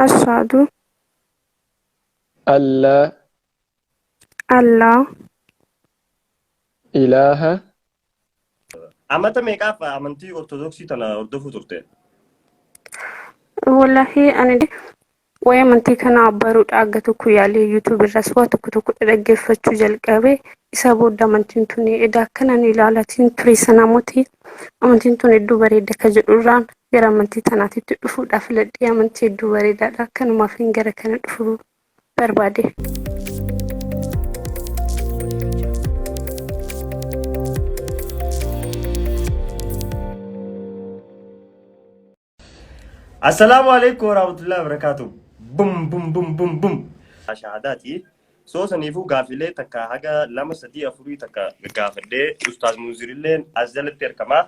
Ashaadu. Allaa. Allaa. Ilaaha. Amata meeqaaf amantii Ortodoksii tana hordofuu turte? Wallaahi ani waa'ee amantii kanaa baruudhaa aga tokko yaalee yuutuub irras waa tokko tokko dhaggeeffachuu jalqabe isa booda amantiin tuni edaa akkanan ilaalatiin ture sana moti amantiin tun hedduu bareedda ka jedhu irraan gara amantii tanaatitti dhufuudhaa filadhee amantii hedduu bareedaadha kanumaaf hin gara kana dhufuu barbaade. Assalaamu alaikum warahmatullahi wabarakatuh. Bum bum bum bum bum. Shahaadaati. Soo saniifuu gaafilee takka haga lama sadii afurii takka gaafadhee ustaaz Muuzirilleen as jalatti argama.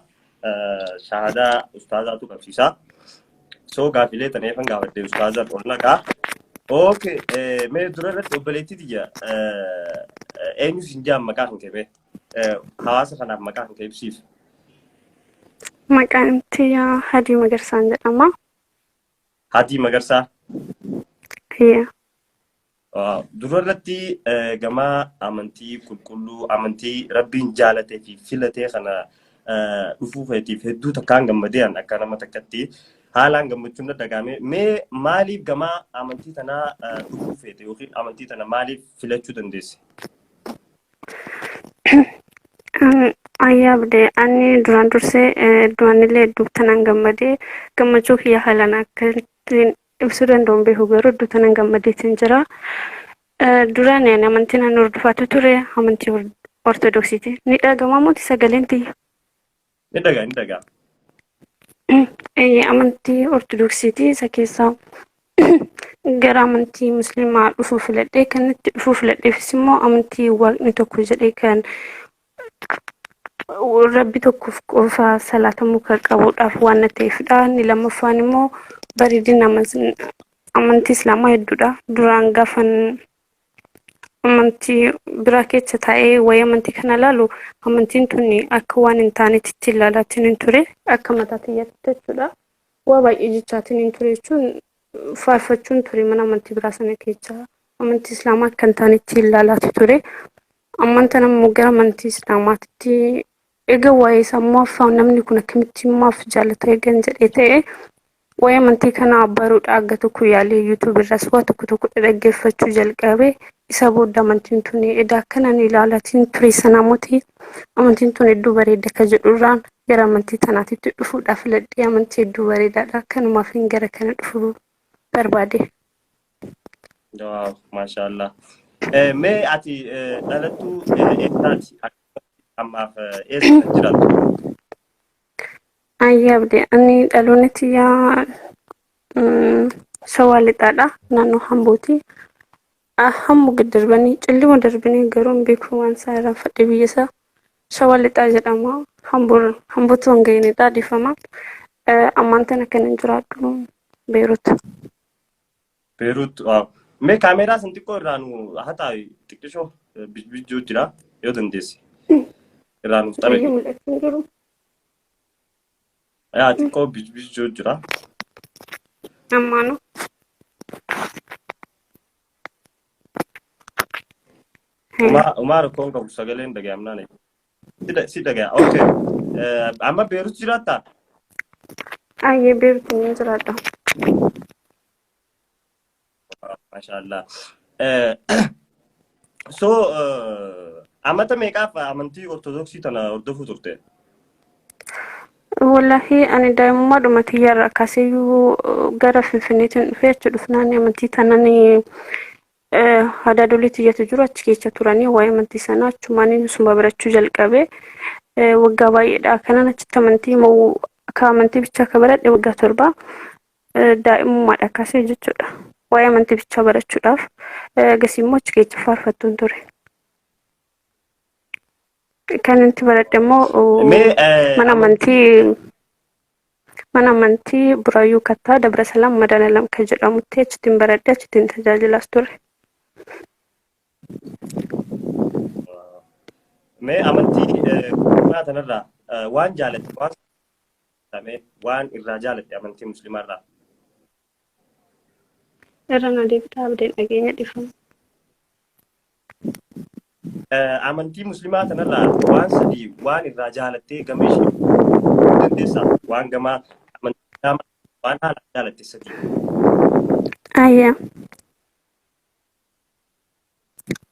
shahaadaa ustaazaatu qabsiisa. So gaaffilee tan eefan gaafadhe ustaazan ol naqaa. Ok, eh, mee dura irratti obboleettii tiyya eh, eh, eenyu sin jaan maqaa kan kebe eh, hawaasa kanaaf maqaa kan keebsiif. Maqaan tiyya Hadii Magarsaan jedhama. Hatii Magarsaa. Tiyya. Dura irratti gama amantii qulqulluu amantii rabbiin jaalatee fi filatee kana dhufuu keetiif hedduu takkaan gammadee akka nama takkatti haalaan gammachuun na dhagaame. Mee maaliif gama amantii tanaa dhufuu feete yookiin amantii tana maaliif filachuu dandeesse? Ayyaa abdee ani duraan dursee heddumanillee hedduuf tanan gammadee gammachuu kiyya haalaan akka ittiin ibsuu danda'u hin beeku garuu iddoo tanan gammadeetiin jira. Duraan ani amantii nan hordofaatu ture amantii ortodoksiiti. Ni dhagama mooti sagaleen tiyya. Ni dhagaa ni dhagaa. Amantii ortodoksiiti isa keessaa gara amantii musliimaa dhufuu filadhee kan itti dhufuu filadheefis immoo amantii waaqni tokko jedhee kan rabbi tokkoof qofa salaatamuu kan qabuudhaaf waan na ta'eefidha. Inni lammaffaan immoo bareedina aman- amantii islaamaa hedduudha. Duraan gaafan amantii biraa keessa taa'ee waa'ee amantii kana ilaalu amantiin tun akka waan hin taanetti itti ilaalaatiin hin ture akka mataa kiyyaatti jechuudha. Waa baay'ee jechaatiin hin ture jechuun faarfachuun ture mana amantii biraa sana keessa amantii islaamaa akka hin taanetti ilaalaati ture. Amman tana immoo gara amantii Islaamaatti eega waa'ee isaa immoo afaa namni kun akkamitti maaf jaalata eegan jedhee ta'e waa'ee amantii kanaa baruudha aga tokko yaalee yuutuub irraas waa tokko tokko dhaggeeffachuu jalqabe isa booda amantiin tun edaa akkanan ilaalatiin ture sanaamotii amantiin tun hedduu bareedda akka jedhurraan gara amantii tanaatitti dhufuudhaaf filadhee amantii hedduu bareedaadha kanumaaf gara kana dhufuu barbaade. Waaw, maashaallah. Eh, Mee ati eh, dhalattuu eh, eessaati? Akkasumas ammaaf eh, eessa kan jiraattu? Ayyaa abdi ani dhaloonni tiyyaa mm, shawaa lixaadha naannoo hambooti. Ah, Hammu gad darbanii cillima darbanii garuu hin beeku waan isaa irraan fadhee biyya isaa shawaa lixaa jedhama. Hambuur hambuutu hin ga'inidha dhiifama. Eh, Ammaan tana kan hin jiraadhu beerutu. Beeruut waaw. Mee kaameeraa san xiqqoo irraa nu haxaa xiqqishoo bijbijjuu jira yoo dandeesse. Irraa nuuf xaragi. Baay'ee mul'achaa hin jiru. Yaa xiqqoo bijbijjuu jira. Ammaanoo. Umaa umaa rakkoon qabu sagaleen dhaga'amnaan. Sida sida gaya. Okay. Eh, amma Beerut jiraatta? Ayyee beektu ni jiraadha. Mashaallah. Eh, so eh, amata meeqaaf amantii ortodoksii tana hordofuu turte? Wallaahi ani daa'imummaa dhuma tiyyarra akkasiyyuu gara Finfinneetiin dhufee achi dhufnaan amantii tanan Hadaadolee tiyyatu jiru achi keessa turanii waa'ee amantii sanaa achumaan inusuma barachuu jalqabe waggaa baay'eedha kanan achitti amantii moo akka amantii bichaa akka baradhe waggaa torba daa'imummaadha kaasee jechuudha waa'ee amantii bichaa barachuudhaaf gasii immoo achi keessa faarfattuun ture. Kan nuti baradhe immoo mana amantii Mana amantii Buraayyuu Kattaa Dabra Salaam Madanalam kan jedhamutti achittiin baradhe achittiin tajaajilaas ture. Mee amantii musliimaa tanarraa waan jaalatte waan waan irraa jaalatte amantii musliimaarraa. Irra na deebitaa abdee dhageenya dhifama. Amantii muslimaa tanarraa waan sadii waan irraa jaalattee gama ishee dandeessaa waan gamaa amantii islaamaa waan haala jaalatte sadii. Ayya.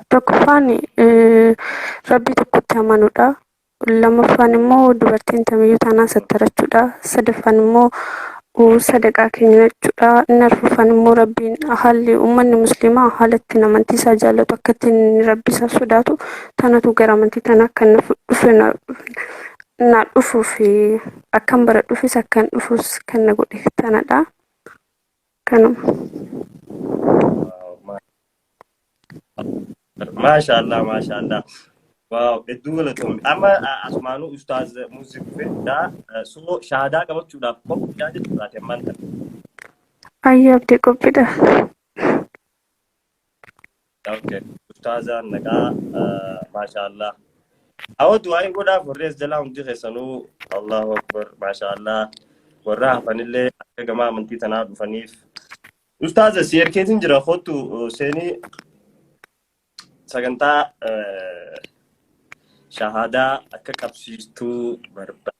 Tokkoffaan rabbii tokkotti amanuudha. Lammaffaan immoo dubartiin tamiyyuu taanaan sattarachuudha. Sadaffaan immoo uu, sadaqaa kennachuudha. Inni arfaffaan immoo rabbiin haalli ummanni musliimaa haala ittiin amantii isaa jaallatu akka ittiin rabbi isaa sodaatu tanatu gara amantii tana akka inni fu- dhufe na- naa dhufuuf akkan baradhuufis akkan dhufuus kan na godhe tanadha. Kanuma. Maashaallah maashaallah. Waaw hedduu galatoomi. Amma ah, asumaanuu ustaaz Muuzii dhufee jira. Eh, Soo shahaadaa qabachuudhaaf qophiidhaa jechuudhaati ammaan tana. Ayyaa abdii qophiidha. Okay. Ustaaza nagaa maashaallah. Awwa du'aayin godhaaf warri as jalaa hundi keessanuu Allahu Akbar maashaallah warra hafanillee akka gama amantii tanaa dhufaniif. Ustaaza si erkeetiin jira kottu seenii sagantaa shahaadaa akka qabsiistuu barbaada.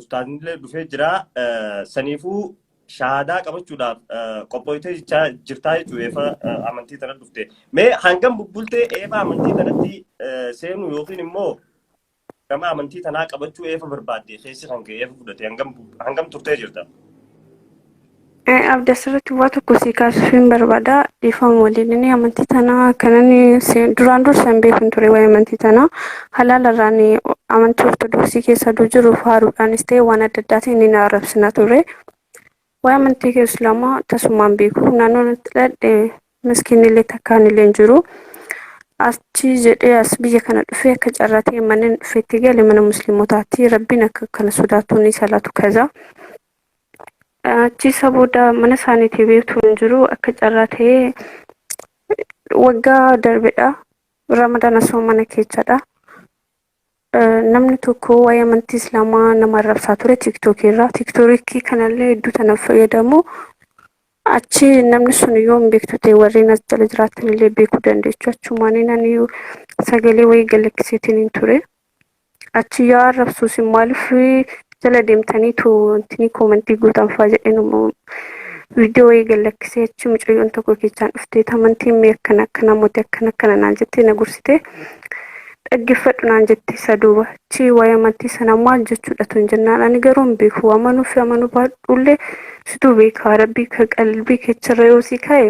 Ustaaznillee dhufee jira. Saniifuu shahaadaa qabachuudhaaf qophooytee jechaa jirtaa jechuudha eefa amantii tana dhufte. Mee hangam bubbultee eefa amantii tanatti seenuu yookiin immoo gama amantii tanaa qabachuu eefa barbaadde keessi kan ka'e eefa fudhate hangam turtee jirta? Abdi asirratti waa tokko sii kaasuufiin barbaada dhiifama waliin inni amantii tanaa kanan duraan dursa hin beekun ture waa'ee amantii tanaa halaalarraan amantii ortodoksii keessa aduu jiru faaruudhaanis ta'e waan adda addaatiin inni na arrabsina ture. Waa'ee amantii kee islaamaa tasumaan beeku naannoon itti dhadhe miskiinillee takkaanillee hin jiru. Achi jedhee as biyya kana dhufee akka carraa ta'e manneen dhufeetti gale mana musliimotaatti rabbiin akka kana sodaatuun salaatu kaza. Achiisa booda mana isaaniitii beektu hin jiru akka carraa ta'ee waggaa darbedha. Ramadaan asuma mana keessadha. Namni tokko waa'ee amantii islaamaa nama arrabsaa ture tiiktookii irraa. Tiiktookii kanallee hedduu tanaaf fayyadamu. Achi namni sun yoo hin beektu ta'e warreen as jala jiraatan illee beekuu dandeechu. Achumaan ani sagalee wayii galakkiseetiin hin ture. achi yoo arrabsu isin maaliif jala deemtaniitu wantinii koomantii gootan fa'aa jedheen viidiyoo eegan lakkisee achi mucayyoon tokko keessaan dhuftee amantiin mee akkana akkana mootii akkana akkana naan jettee na gorsitee dhaggeeffadhu naan jette isa duuba achi waa'ee amantii sana maal jechuudha tun jennaan ani garuu hin beeku amanuu fi amanuu baadhuullee situu beekaa rabbii ka qalbii kecharra yoo si kaa'e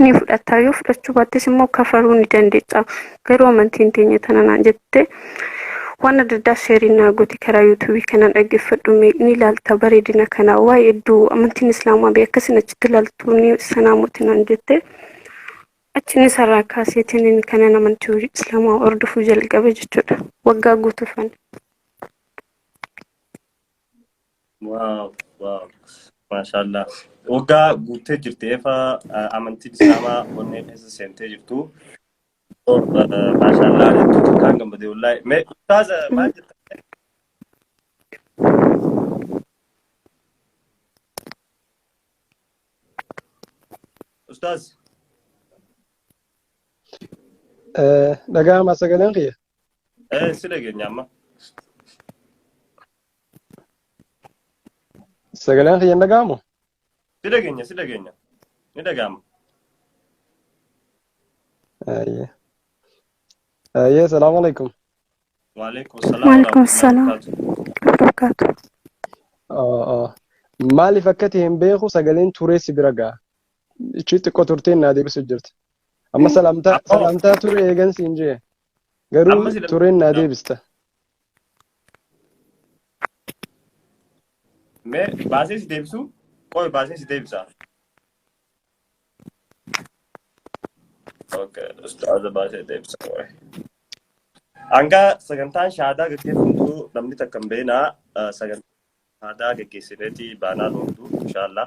ni fudhatta yoo fudhachuu baattis immoo kafaruu ni dandeessa garuu amantiin teenya tana naan jette waan adda addaa sheerii naa gooti karaa yuutuubii kanaan dhaggeeffadhu mee ni ilaalta bareedina kana waa'ee hedduu amantiin islaamaa bee akkasin achitti ilaaltu ni sanaa mootii naan jette achiin isarraa kaaseetiin kanan amantii islaamaa hordofuu jalqabe jechuudha waggaa guutuufan. Waaw, waaw. Maashaallah. Waggaa guuttee jirti efa amantii islaamaa onnee keessa seentee jirtu. Oh, eh, Maashaallah hedduu takkaan gammadee wallaahi. Mee ustaaza maal jettan? Ustaaz. Dhaga'ama sagaleen kiyya. Eh, si dhageenya amma. Sagaleen kiyya hin dhaga'amu? Si dhageenya, si dhageenya. Ni dhaga'ama. Ayyee. Ayyee, salaamu alaikum. Waalaikum salaam Waalaikum warahmatullahi salaam. wabarakatuh. Barakaatu. Maaliif akka ta'e hin beeku sagaleen turee si bira ga'a. Ichi xiqqoo turteen naa deebisu jirti. Amma Eh, salaamtaa ammoo- salaamtaa ture eegan siin jee. Garuu Amma sila- tureen naa deebista. Mee baasee si deebisu? Qoy baasee si deebisa. Okay, ustaaza baasee deebisa. qoy. Hanga sagantaan shaadaa gaggeeffamtu namni takka hin beekne sagantaa shaadaa gaggeessineeti baanaan ooltu inshaallah.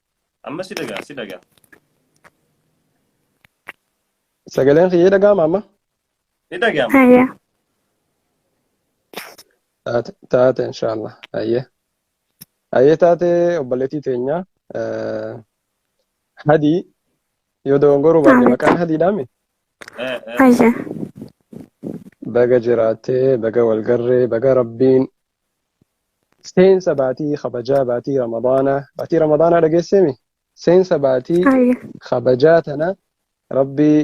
Amma si dhagaa si dhagaa. Sagaleen kiyya dhaga'ama amma. Ni dhagaama. Haya. Taate taate inshaallah. Hayyee. Hayyee taate obboleettii teenya. eh, Hadii yoo dogongoruu baadhe Amiin. maqaan hadiidhaami. Eh, eh. Haya. Baga jiraattee, baga walgarree, baga rabbiin seensa baatii kabajaa baatii ramadaanaa baatii ramadaanaa dhageesseemi seensa baatii Ayya. kabajaa tana rabbii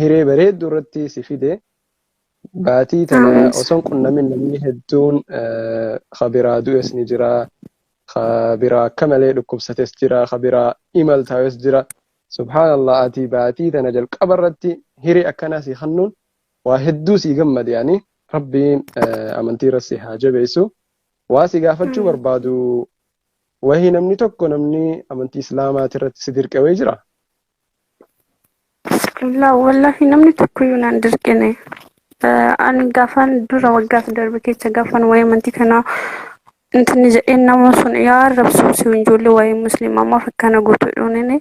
hiree bareedduu irratti si fide baatii tana Amiin. osoon qunnamin namni hedduun eh, ka biraa du'es ni jira ka biraa akka malee dhukkubsates jira ka biraa imaltaawes jira subhaanallah ati baatii tana jalqaba irratti hiree akkanaa si hannuun waa hedduu sii gammade ani rabbiin amantii irra si haa jabeessu waa si gaafachuu barbaadu wahii namni tokko namni amantii islaamaati irratti si dirqe wayii jira Bismillah wallahi namni tokko iyyuu naan dirqine ani gaafaan dura waggaaf darbe keessa gaafaan waa'ee amantii kanaa Nuti ni jedheen nama sun yaa arrabsuu si ijoollee waa'ee musliimaa maaf akkana gootu jedhuunini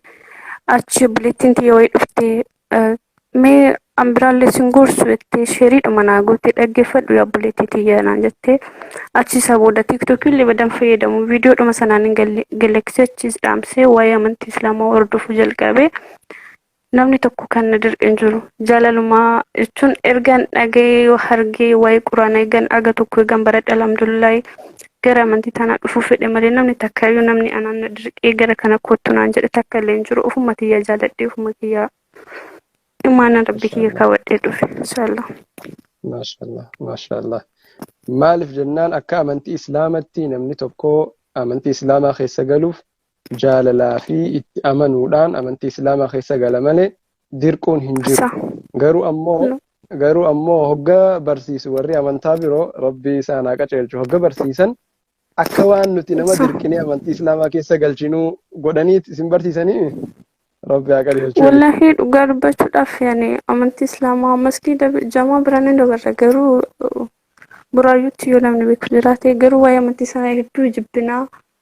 achi obboleettiin tiyya wayii dhuftee eh, mee an biraallee sin gorsu jettee sheeriidhuma naa gootee dhaggeeffadhu yaa obboleettii tiyya naan jettee achi isa booda tiiktookii illee badan fayyadamu viidiyoodhuma sanaan hin galle- galaksee achiis dhaamsee waa'ee amantii islaamaa hordofuu jalqabe. Namni tokko kan na dirqe hin jiru. Jaalalumaa jechuun ergan dhaga'ee yoo argee waa'ee quraana eegan arga tokko eegan baradhe alhamdulillahi gara amantii tanaa dhufuu fedhe malee namni takka iyyuu namni anaan na dirqee gara kana kottu naan jedhe takka illee hin jiru ofuma kiyyaa jaaladhee ofuma kiyyaa imaana rabbi kiyya Mashallah. kaawwadhee dhufe inshallah. Mashallah. Mashallah. Maaliif jennaan akka amantii islaamatti namni tokko amantii islaamaa keessa galuuf jaalalaa fi itti amanuudhaan amantii islaamaa keessa gala malee dirquun hin jiru صح garuu ammoo نو garuu ammoo hogga barsiisu warri amantaa biroo rabbii isaan haa qaceelchu hogga barsiisan akka waan nuti nama صح dirqinee amantii islaamaa keessa galchinuu godhaniit isin barsiisanii rabbi haa qajeelchu waliin Wallahi dhugaa dubbachuudhaaf yani amantii islaamaa masgiida jamaa biraan hin dabarre garuu uh, buraayyuutti yoo namni beeku jiraate garuu waa'ee amantii sana hedduu jibbinaa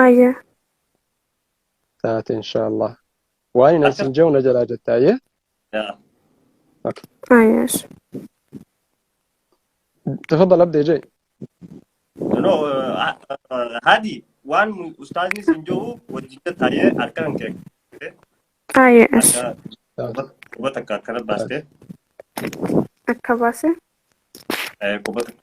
Aayya. taate inshaallah waan hin isin jehu na jalaa jetta ayyee Aayya. tafadal abdee jee no hadi waan ustaazni sin jiru wajjin taa'ee harka kan kee Aayya. harka quba takka akkana baastee Akka baase. eh, quba takka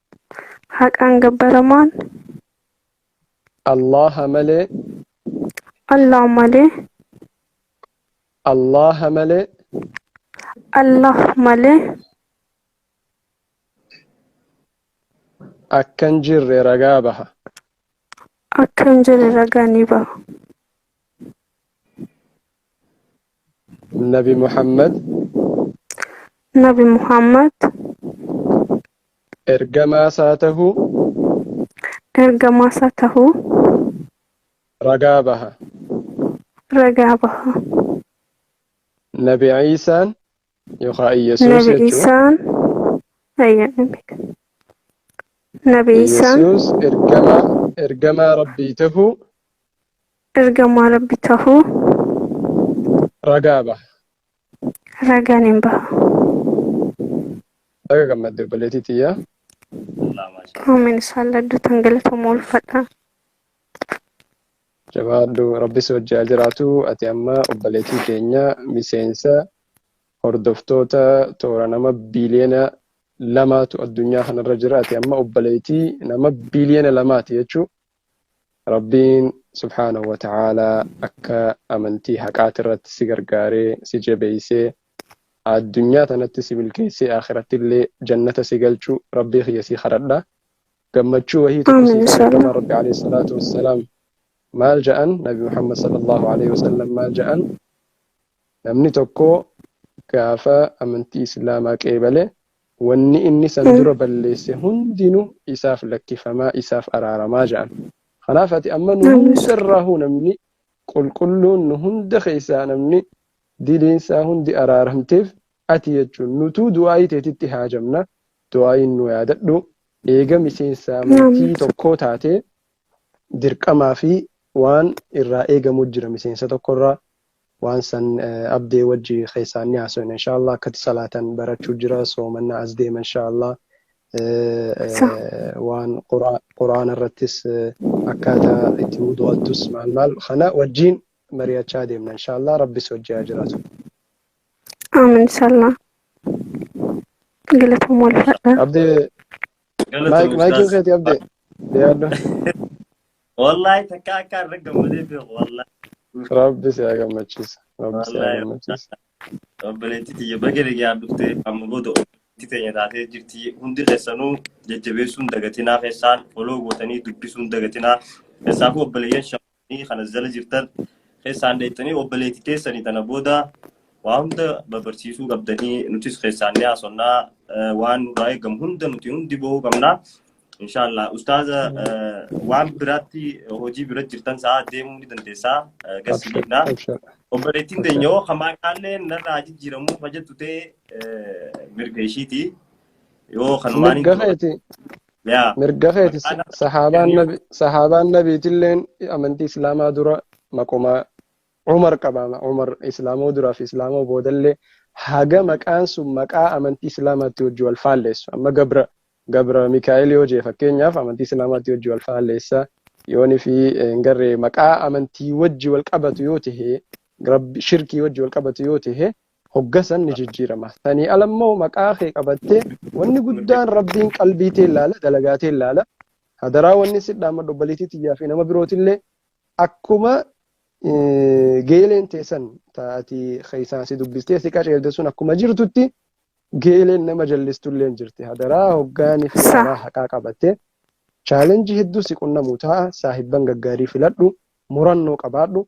Haqaan gabbaramaan Allaha malee Allah malee Allaha malee Allah malee akka hin jirre ragaa baha. akka hin jirre ragaa ni baha. Nabi Muhammad Nabi Muhammad ergamaa isaa tahu ergamaa isaa tahu ragaa baha. ragaa baha. Nabi Ciisaan yookaan Iyyasuus Nabi jechuun Iisaan ayya Nabi Iisaan Iyyasuus ergamaa ergamaa Rabbii tahuu Ergamaa Rabbi tahuu Ragaa baha. ragaan hin baha. Baga gammadde obboleettii tiyya. Allah maasha Allah. Amin isaallee addootan galatooma ulfadha. Jabaadhu rabbis wajji haa jiraatu. Ati amma obboleettii keenya miseensa hordoftoota toora nama biiliyoona lamaatu addunyaa kanarra jira. Ati amma obboleettii nama biiliyoona lamaati jechuun Rabbiin subhaanahu wa ta'aalaa akka amantii haqaatirratti si gargaaree, si jabeeysee, addunyaa tanatti si milkeeysee aakhirattillee jannata si galchu Rabbii kiyya si khadhadha. Gammachuu wahii tokko sii Aamiin khadha Ergamaan Rabbii inshallaah. aleeyhi salaatu wassalaam maal ja'an? Nabi Muhammad sallallaahu aleeyhi wasallam maal ja'an? Namni tokko gaafa amantii Islaamaa qeebale wanni inni san Mm. dura balleesse hundinu isaaf lakkifamaa isaaf araaramaa ja'an. Kanaaf ati amma nu Namni hunda irraahuu namni qulqulluun nu hunda keessaa namni diliinsaa hundi araaramteef ati jechuun nutuu du'aayii teetitti haajamna du'aayiin nu yaadadhu eega miseensa amantii Namni. tokkoo taatee dirqamaa fi waan irraa eegamu jira miseensa tokkorraa Waan san abdee wajji keessaan ni haasoyna insha Allah akkati salaatan barachuu jira soomanna as deema insha Allah Sa- waan Qur'aa- qur'aana irrattis akkaataa itti wudu'attus maal maal kana wajjiin mari'achaa deemna insha Allah rabbis wajji haa jiraatu Aamin inshallah. Galatooma wal fadhaa. abdee Maayik maayikii Ustaaz. keetii abdee. Deeyaadhu. Wallaahi takka akka irra gammadee beeku wallaahi. Rabbi si haa gammachiisu. Rabbi si haa Wallaahi. gammachiisu. Obboleettii tiyya baga nagaan dhufte amma booda obboleettii teenya taatee jirti. Hundi keessanuu jajjabeessuun dagatinaa keessaan foloo gootanii dubbisuun dagatinaa. Keessaafuu obboleeyyan shamarran Isinii kan as jala jirtan keessaan dheettanii obboleetti teessanii tana booda waa hunda babarsiisuu qabdanii nutis keessaan ni haasonnaa eh, waan nurraa eegamu hunda nuti hundi bahuu qabna. Inshaallah ustaaza eh, waan biraatti hojii bira jirtan sa'a deemuu ni dandeessaa eh, gassi Abshir, dhiifnaa. abshir, Obboleettiin abshir. teenyoo hamaa kaallee narraa jijjiiramuu hojjettu ta'e eh, mirga ishiiti. Yoo kanumaan hin Mirga qabatan. keeti, yaa mirga keeti maqaa nama sahaabaan kennuu nabi sahaabaan nabiitilleen amantii islaamaa dura maquma umar qabaama umar islaamoo duraaf islaamoo boodallee haga maqaan sun maqaa amantii islaamaatti hojii wal faalleessu amma gabra gabra mikaa'el yoo jee fakkeenyaaf amantii islaamaatti hojii wal faalleessa yooni fi eh, hin garree maqaa amantii wajji wal qabatu yoo tahe rabbi shirkii wajji wal qabatu yoo tahe Hogga san ni jijjiirama. Sanii ala immoo maqaa kee qabattee wanni guddaan Rabbiin qalbii tee laala, dalagaa tee laala. Hadaraa wanni si dhaammadhu obboleettii tiyyaa fi nama birootillee akkuma geeleen teessan taati keessaan si dubbistee si qaceelte sun akkuma jirtutti geeleen nama jallistullee hin jirti. Hadaraa hoggaanii fi karaa haqaa qabattee chaalenjii hedduu si qunnamu ta'a saahibban gaggaarii filadhu murannoo qabaadhu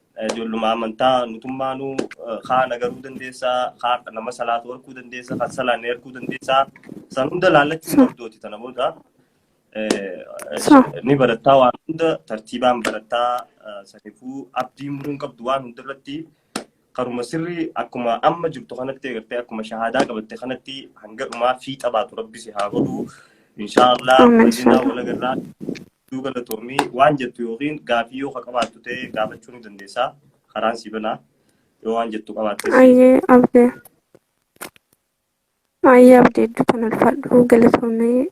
Ijoolluma amantaa nutummaanuu kaa nagaruu dandeessaa, kaa nama salaatu harkuu dandeessaa, kan salaanne harkuu dandeessaa. San hunda laallachuun qabdooti tana booda. Ni barattaa waan hunda tartiibaan barattaa sanifuu abdii muruun qabdu waan hundarratti karuma sirrii akkuma amma jirtu kanatti eegartee akkuma shahaadaa qabatte kanatti hanga dhumaa fiixa baatu rabbi si haa godhu. Inshaallah wajjinaa walagarraa Hedduu galatoomi waan jettu yookiin gaafii yoo ka qabaattu ta'e gaafachuu ni dandeessa. Karaan si banaa yoo waan jettu qabaattes. Ayyee abdi. Ayyee abdi hedduu tan ulfaadhu galatoomee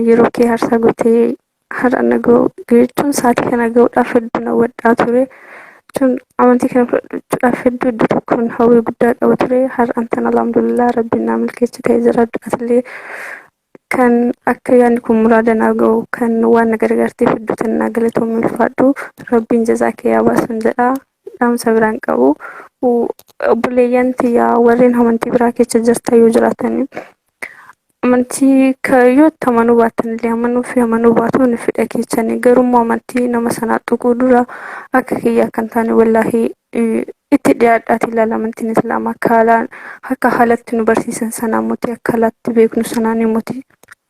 yeroo kee harsaa gootee har'a na ga'u jechuun sa'aatii kana ga'uudhaaf hedduu na wadhaa ture. Jechuun amantii kana fudhachuudhaaf hedduu hedduu tokkoon hawwii guddaa qaba ture. Har'aan tan alhamdulillah rabbiin naa milkeessi ta'e jira du'atillee Kan akka yaanni kun muraada naa ga'u kan waan na gargaarteef hedduu tan naa galatoomi ulfaadhu rabbiin jazaa kee yaa baasun jedha dhaamsa biraan qabu obboleeyyan tiyyaa warreen amantii biraa keessa jirtan yoo jiraatanii amantii ka- yoo itti amanuu baattan illee amanuu fi amanuu baatuun fidha keessanii garuu immoo amantii nama sanaa tuquu dura akka kiyyaa kan taane wallaahi itti dhiyaadhaati ilaala amantiin islaama akka haalaan akka haalatti nu barsiisan sanaa mootii akka haalatti beeknu sanaan mootii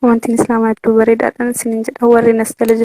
amantiin islaamaa iddoo bareedaadhaan isiniin jedha warri nas jala